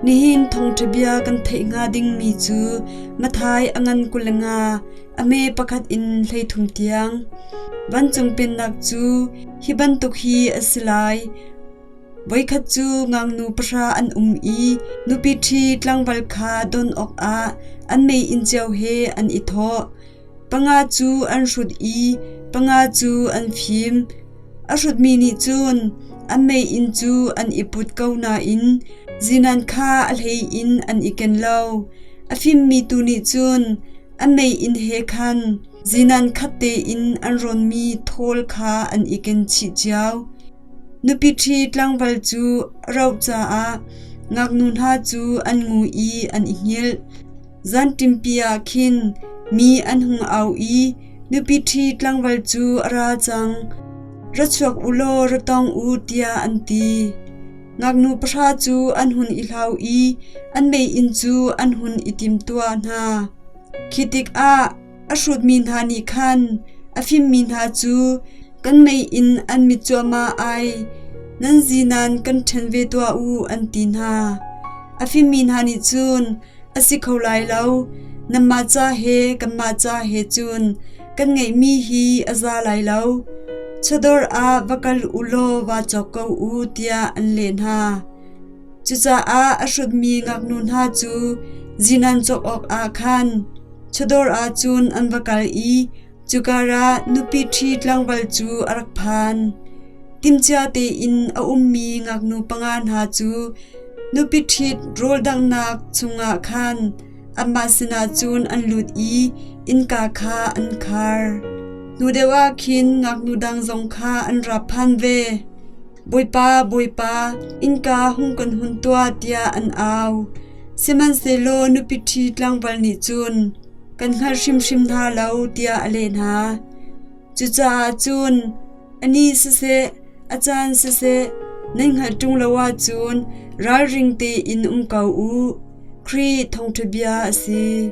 Nihin thawngṭhabia kan theih hnga dingmi cu Matthai a ngan kul le nga, a me pakhat in hleithum tiang. Vancung Pennak cu hi bantuk hi a si lai: Voikhat cu ngaknu pahra an um i nupi ṭhi tlangval kha don awkah an mei in cio he an i thawh. Panga cu an hrut i panga cu an fim. A hrutmi nih cun an mei inn cu an i put ko nain zinan kha a hlei in an i ken lo. A fimmi tu nih cun an mei inn he khan zinan khat tein an ronmi thawl kha an i ken chih cio. Nupi ṭhi tlangval cu a rauh caah ngaknu hna cu an ngu i an i hngilh. Zanṭimpi ah khin mi an hung au i, Nupi ṭhi tlangval cu a ra cang. Ra chuak u law ra tong u, tiah an ti. Ngaknu pahra cu an hun i hlau i an mei inn cu an hun i timtuah hna. Khi tikah A hrutmi hna nih khan a fimmi hna cu kan mei in an mit cuahmah ai, nan zinan kan ṭhen ve tuah u, an ti hna. A fimmi hna nih cun, A si kho lai lo, nanmah ca he kanmah ca he cun kan ngeihmi hi a za lai lo. Chawdawr ah va kal u law vaa cawk ko u, tiah an leh hna. Cucaah a hrutmi ngaknu hna cu zinan cawk awkah khan Chadawr ah cun an va kal i cukarah nupi ṭhi tlangval cu a rak phan. Timcia tein a ummi ngaknu panga hna cu nupi ṭhit rawldanghnak chungah khan amah sinah cun an lut i innka kha an khar. Hnu deuh ah khin ngaknu dang zong kha an ra phan ve. Bawipa, Bawipa, innka hung kan hun tuah tiah an au. Sihmanhsehlaw nupi ṭhi tlangval nih cun, Kan hngalh hrimhrim hna lo, tiah a leh hna. Cucaah cun, A ni siseh, a caan siseh, nan hngalh ṭung lo ahcun ralring tein um ko u. Khrih thawngṭha bia a si.